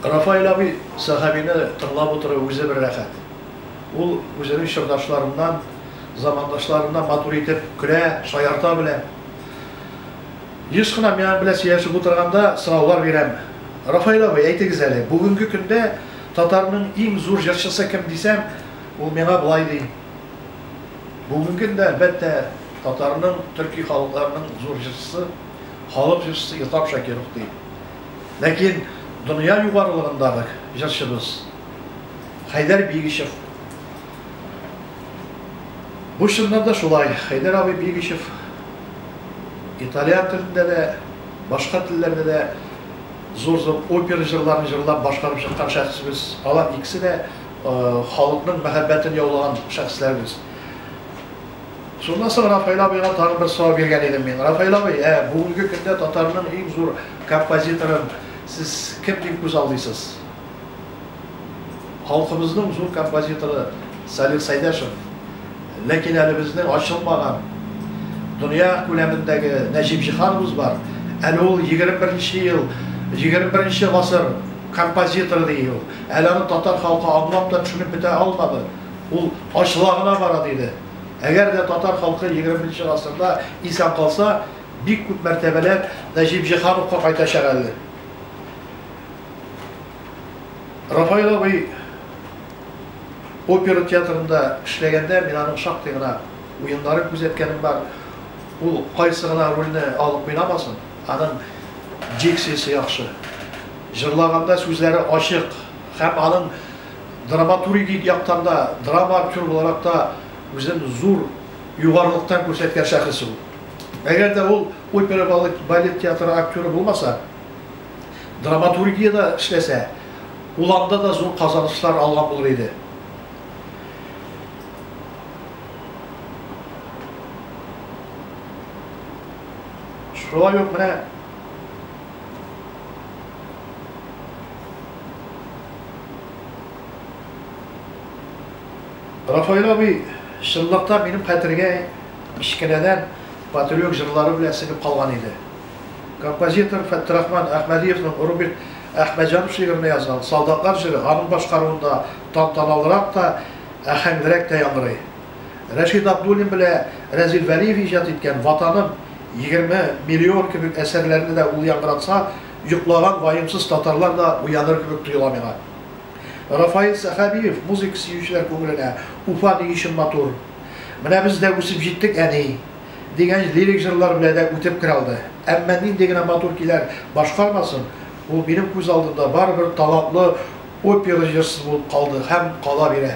Рафаэль абый Сәхәбине тыңлап утыру үзе бер рәхәт. Ул үзенең чордашларыннан, замандашларыннан матур итеп көлә, шаярта белә. Еш кына мин аның белән сөйләшеп утырганда сораулар бирәм. Рафаэль абый, әйтегез әле, бүгенге көндә татарның иң зур җырчысы кем дисәм, ул миңа болай ди, Бүгенге көндә, әлбәттә, татарның, төрки халыкларның зур җырчысы, халык җырчысы Илтап Шакиров, ди. Ләкин дөнья югарылыгындагы җырчыбыз Хәйдәр Бигичев Бу чыннан да шулай, Хәйдәр абый Бигичев италиан телендә дә, башка телләрдә дә зур-зур опера җырларын җырлап башкарып чыккан шәхесбез. Алар икесе дә халыкның мәхәббәтен яулаган шәхесләрбез. Шуннан соң Рафаэль абыйга тагын бер сорау биргән идем мин. Рафаэль абый, ә бүгенге көндә татарның иң зур композиторын сез кем дип күз алдыйсыз? Халкыбызның зур композиторы Салих Сәйдәшев, ләкин әле безнең ачылмаган дөнья күләмендәге Нәҗип Җиһановыз бар. Әле ул егерме беренче ел, егерме беренче гасыр композиторы ди ул. Әле аны татар халкы аңлап та, төшенеп бетә алмады. Ул ачыла гына бара, диде. Әгәр дә татар халкы егерменче гасырда исән калса, бик күп мәртәбәләр Нәҗип Җиһановка кайтачак әле. Рафаил абый опера театрында эшләгәндә мин аның шактый гына уеннарын күзәткәнем бар. Ул кайсы гына рольне алып уйнамасын, аның дикциясе яхшы. Җырлаганда сүзләре ачык һәм аның Драматургик яктан да, драма актеры буларак та үзен зур югарылыктан күрсәткән шәхес ул. Әгәр дә ул опера-балет театры актеры булмаса, драматургиядә эшләсә, ул анда да зур казанышлар алган булыр иде. Шулай ук менә. Рафаэль абый, чынлыкта минем хәтергә кечкенәдән патриок җырлары белән сеңеп калган иде. Композитор Фәттерахман Әхмәдиевның Рубик Әхмәтҗанов шигыренә язган Солдатлар җыры аның башкаруында тантаналырак та, әһәңлерәк тә яңгырый. Рәшит Абдуллин белә Рәзил Вәлиев иҗат иткән Ватаным, Егерме миллион кебек әсәрләрне дә ул яңгыратса, Йоклаган ваемсыз татарлар да уяныр кебек тоела миңа. Рафаил Сәхәбиев музыка сөючеләр күңеленә Уфа ни өчен матур, Менә без дә үсеп җиттек, әни! дигән лирик җырлар белән дә үтеп керә алды. Әмма нинди генә матур көйләр башкармасын, ул минем күз алдымда барыбер талантлы опера җырчысы булып калды һәм кала бирә.